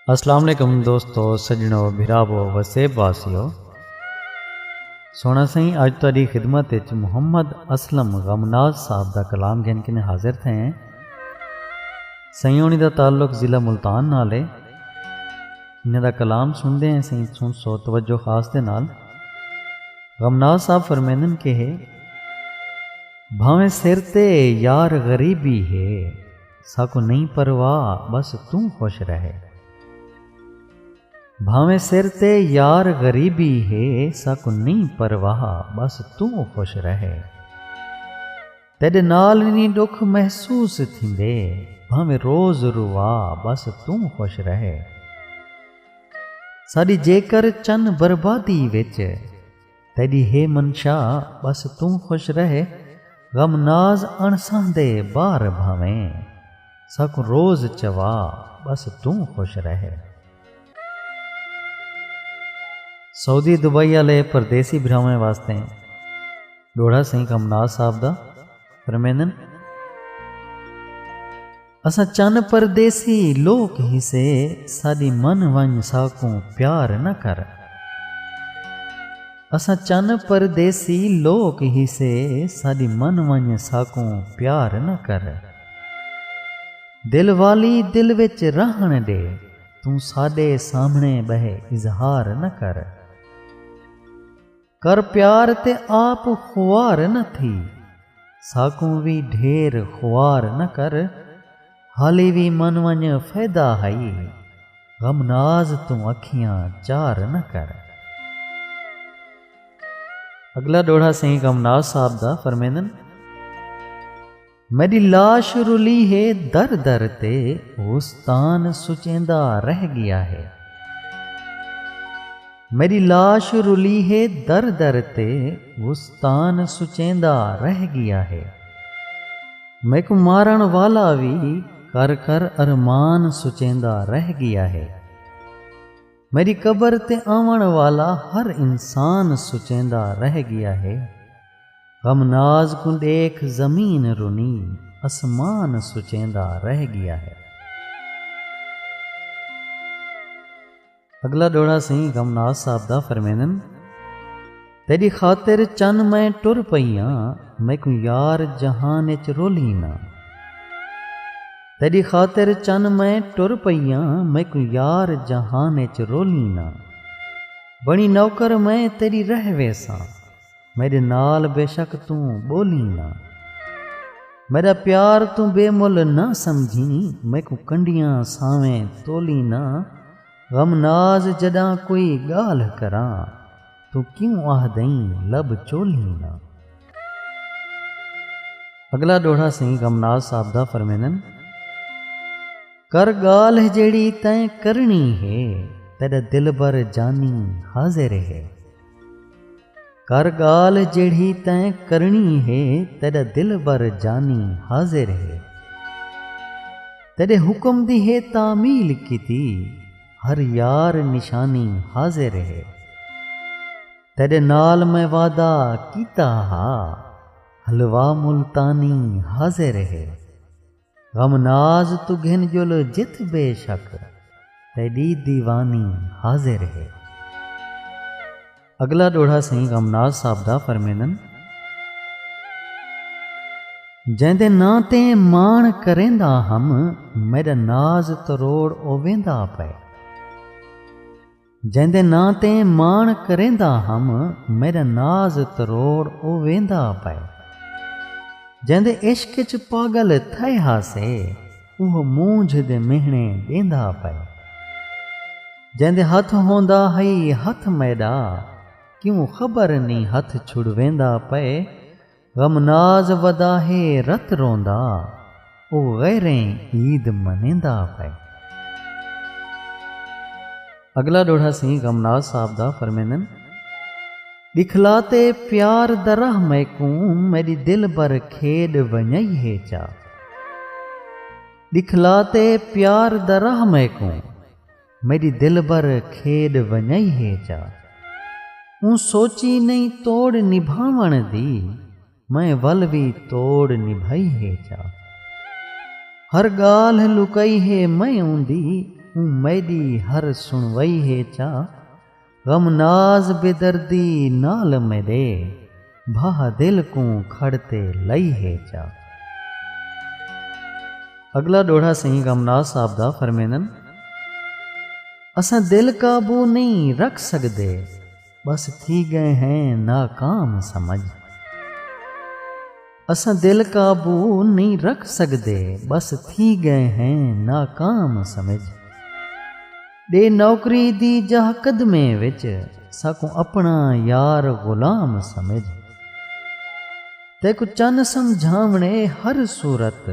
السلام علیکم دوستو سجنو بھراو وسیب واسیو سونا سائیں اج تاری خدمت وچ محمد اسلم غمناز صاحب دا کلام گھن کنے حاضر تھے ہیں سائیں ہونی دا تعلق ضلع ملتان نال ہے انہاں دا کلام سنڑدے ہیں سئیں سنڑسو توجہ خاص دے نال غمناز صاحب فرمیندن کہ ہے بھاویں سر تے یار غریبی ہے ساکوں نئیں پرواہ بس توں خوش رہے بھاویں سر تے یار غریبی ہے ساکوں نئیں پرواہ بس توں خوش رہے۔ تیڈے نال نی ڈکھ محسوس تھیندے بھاویں روز روا بس توں خوش رہے ساڈی جیکر چن بربادی وچ تیڈی ہے منشا بس توں خوش رہے غم ناز اݨ سہندے بار بھاویں ساکوں روز چوا بس توں خوش رہے۔ سعودی دبئی آلے پردیسی بھراواں واسطے۔ ݙوہڑا سئیں کمناس صاحب دا فرمیندن۔ اساں چن پردیسی لوک ہیسے ساݙی من ونڄ ساکوں پیار نہ کر۔ اساں چن پردیسی لوک ہیسے ساݙی من ونڄ ساکوں پیار نہ کر۔ دل والی دل وچ رہݨ ݙے توں ساݙے سامھݨے ٻہہ اظہار نہ کر۔ کر پیار تے آپ خوار نہ تھی ساکوں وی ڈھیر خوار نہ کر حالی وی من ونج فیدا ہئی غم ناز توں اکھیاں چار نہ کر۔ اگلا ڈوہڑا سئیں غم ناز صاحب دا فرمیندن۔ میݙی لاش رلی ہے در در تے اوستان سچیندا رہ ڳیا ہے میݙی لاش رلی ہے در در تے اوستان سچیندا رہ ڳیا ہے میکوں مارݨ والا وی کر کر ارمان سچیندا رہ ڳیا ہے۔ میݙی قبر تے آوݨ والا ہر انسان سچیندا رہ ڳیا ہے غم ناز کوں ݙیکھ زمین رنی اسمان سچیندا رہ ڳیا ہے۔ اڳلا ݙوہڑا سئیں غم ناز صاحب دا فرمیندن۔ تیݙی خاطر چن میں ٹر پئی آں میکوں یار جہان اچ رولھیں نہ تیݙی خاطر چن میں ٹر پئی آں میکوں یار جہان اچ رولھیں نہ بݨی نوکر میں تیݙی رہ ویساں میݙے نال بیشک توں ٻولھیں نہ میݙا پیار توں بے مل نہ سمجھیں میکوں کنڈیاں سانویں تولھیں نہ غم ناز جݙاں کوئی ڳالھ کراں توں کیوں آہدئیں لب چولھیں دا۔ اگلا ݙوہڑا سئیں غم ناز صاحب دا فرمیندن۔ کر ڳالھ جیڑھی تیں کرݨی ہے تیݙا دلبر جانی حاضر ہے۔ کر ڳالھ جیڑھی تیں کرݨی ہے تیݙا دلبر جانی حاضر ہے۔ تیݙے حکم دی ہے تعمیل کیتی۔ ہر یار نشانی حاضر ہے۔ تیڈے نال میں وعدہ کیتا ہا۔ حلوہ ملتانی حاضر ہے۔ غم ناز توں گھن جل جت بے شک تیڈی دیوانی حاضر ہے۔ اگلا ݙوہڑا سئیں غم ناز صاحب دا فرمیندن۔ جیندے ناں تے ماݨ کریندا ہم میݙا ناز تروڑ او ویندا پئے۔ جیندے ناں تے ماݨ کریندا ہم میݙا ناز تروڑ او ویندا پئے۔ جیندے عشق اچ پاڳل تھئے ہاسے اوہ مونجھ دے مہݨے ݙیندا پئے۔ جیندے ہتھ ہوندا ہئی ہتھ میݙا کیوں خبر نی ہتھ چھڑویندا پئے۔ غم ناز ودا ہے رت روندا اوہ غیریں عید منیندا پئے۔ اگلا ڈوہڑا سئیں غم ناز صاحب دا فرمیندن۔ ݙکھلا تے پیار دا راہ میکوں میݙی دلبر کھیݙ ونڄائی ہے چا۔ ݙکھلا تے پیار دا راہ میکوں میݙی دلبر کھیݙ ونڄائی ہے چا۔ اوں سوچی نئیں توڑ نبھاوݨ دی۔ میں ول وی توڑ نبھائی ہے جا۔ ہر ڳالھ لکائی ہے میں اوندی اوں میݙی ہر سݨوائی ہے جا۔ غم ناز بے دردی نال میݙے بھاہ دل کوں کھڑ تے لائی ہے جا۔ اڳلا ݙوہڑا سئیں غم ناز صاحب دا فرمیندن اساں دل قابو نئیں رکھ سڳدے۔ بس تھی گئے ہیں ناکام سمجھ۔ اساں دل قابو نئیں رکھ سگدے بس تھی گئے ہیں ناکام سمجھ۔ ڈے نوکری دی جاہ قدمے وچ ساکوں اپنا یار غلام سمجھ۔ تیکوں چن سمجھاونے ہر صورت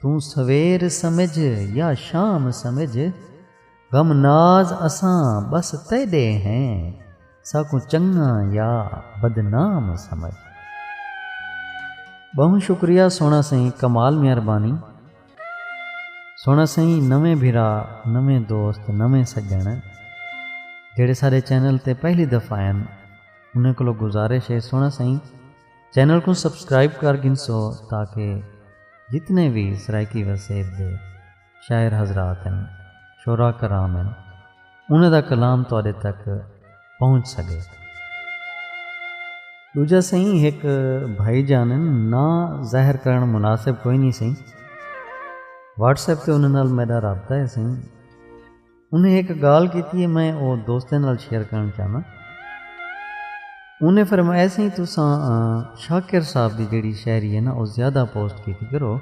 توں سویر سمجھ یا شام سمجھ۔ غم ناز اساں ٻس تیݙے ہیں ساکوں چنڳاں یا بدنام سمجھ۔ ٻہوں شکریہ سوہݨا سئیں کمال مہربانی سوہݨا سئیں نویں بھرا نویں دوست نویں سڄݨ جیڑھے ساݙے چینل تے پہلی دفعہ آئن انہیں کولو گزارش ہے سوہݨا سئیں چینل کوں سبسکرائب کر گھنسو تاکہ جتنے وی سرائیکی وسیب دے شاعر حضرات ہن، شعراء کرام ہن، انہاں دا کلام تہاݙے تک پہنچ سڳے۔ ݙوجھا سئیں ہک بھائی جان ہن، ناں ظاہر کرݨ مناسب کوئنی سئیں، واٹس ایپ تے انہاں نال میݙا رابطہ ہے سئیں، انہیں ہک گالھ کیتی ہے میں او دوستیں نال شیئر کرن چاہنا انہیں فرمایا سی تساں شاکر صاحب دی جڑی شاعری ہے نا او زیادہ پوسٹ کیتی کرو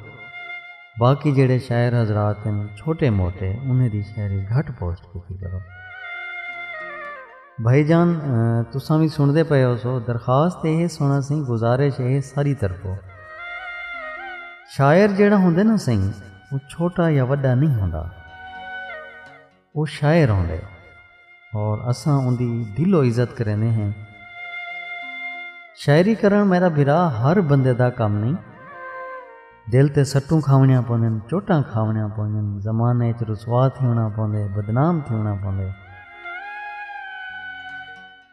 باقی جڑے شاعر حضرات ہیں چھوٹے موٹے انہیں دی شاعری گھٹ پوسٹ کیتی کرو بھائی جان تساں بھی سن دے پئے ہو سو درخواست یہ سونا سی گزارش یہ ساری طرفوں شاعر جڑا ہوں نا سی او چھوٹا یا وݙا نئیں ہوندا۔ او شاعر ہوندے اور اساں اوندی دل و عزت کریندے ہیں۔ شاعری کرݨ میݙا بھرا ہر بندے دا کم نئیں۔ دل تے سٹوں کھاوݨیاں پوندن، چوٹاں کھاوݨیاں پوندن، زمانے اچ رسوا تھیوݨا پوندے، بدنام تھیوݨا پوندے۔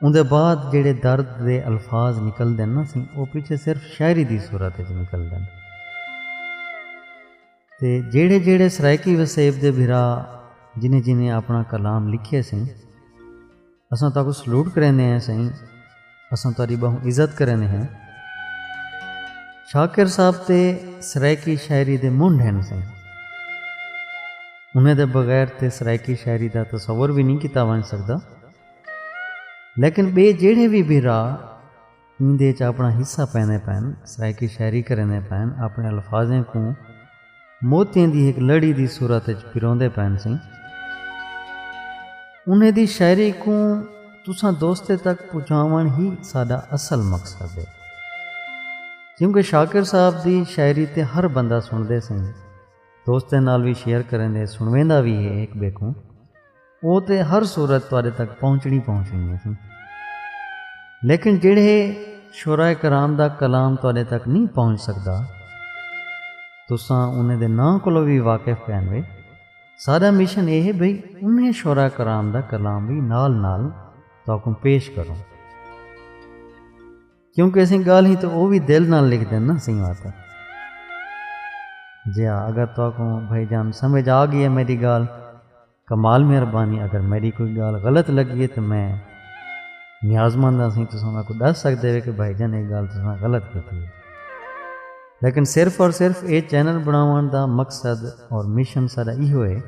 اوندے بعد جیڑھے درد دے الفاظ نکلدن نا سی او پچھے صرف شاعری دی صورت اچ نکلدن۔ تے جیڑھے جیڑھے سرائیکی وسیب دے بھرا جنہیں جنہیں اپنا کلام لکھیے سیں اساں تاکوں سلوٹ کریندے ہیں سئیں اساں تہاڈی بہوں عزت کریندے ہیں۔ شاکر صاحب تے سرائیکی شاعری دے منڈھ ہن سئیں۔ انہیں دے بغیر تے سرائیکی شاعری دا تصور وی نئیں کیتا ونج سکدا۔ لیکن بے جیڑھے وی بھرا ایندے اچ اپنڑا حصہ پیندے پئن، سرائیکی شاعری کریندے پئن، اپنڑے الفاظیں کوں موتیاں دی ہک لڑی دی صورت اچ پروندے پئن سیں، انہیں دی شاعری کوں تساں دوستیں تک پچاونڑ ہی ساڈا اصل مقصد ہے۔ کیونکہ شاکر صاحب دی شاعری تے ہر بندہ سنڑدے سیں، دوستیں نال وی شیئر کریندے سنڑویندا وی ہے ہک بئے کوں۔ او تے ہر صورت تہاڈے تک پہنچنی پہنچنی ہیسی۔ لیکن جیڑھے شعراء کرام دا کلام تہاڈے تک نئیں پہنچ سگدا تساں انہیں دے ناں کولوں وی واقف کائن وے۔ ساڈا مشن اے ہے بھئی انہیں شعراء کرام دا کلام وی نال نال تہاکوں پیش کروں۔ کیونکہ اسیں گالھیں تے او وی دل نال لکھ دین نا سئیں واسطے۔ جیا اگر تہاکوں بھائی جان سمجھ آ گئی ہے میڈی گال۔ کمال مہربانی اگر میڈی کوئی گال غلط لگی ہے تو میں نیاز مند ہاں سائیں تساں میکوں ڈس سکدے ہو کہ بھائی جان ایہ گال تساں غلط کیتی ہے لیکن صرف اور صرف ایہ چینل بناون دا مقصد اور مشن ساڈا ایہو ہے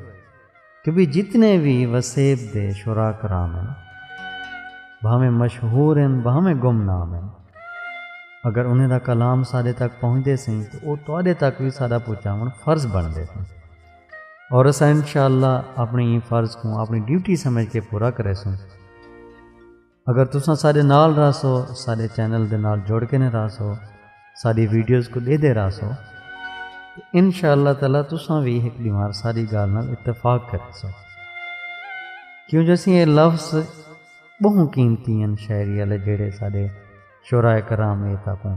کہ بھئی جتنے وی وسیب دے شعراء کرام ہن بھاویں مشہور ہن بھاویں گم نام ہن اگر انہیں دا کلام ساڈے تک پہنچدے سائیں تو او تہاڈے تک وی ساڈا پہنچاون فرض بنڑدے سائیں۔ اور اسا انشاءاللہ اپنی ہی فرض کو اپنی ڈیوٹی سمجھ کے پورا کرے سوں اگر تساں سارے نال رہ سو سارے چینل دے نال جوڑ کے نے رہ سو ساری ویڈیوز کو دے دے رہ سو انشاءاللہ تعالی تساں بھی ایک دیوار ساری گال نال اتفاق کر سو کیوں جیسے یہ لفظ بہت قیمتی ہیں شاعری والے جڑے سارے شعراء کرام اے تاکوں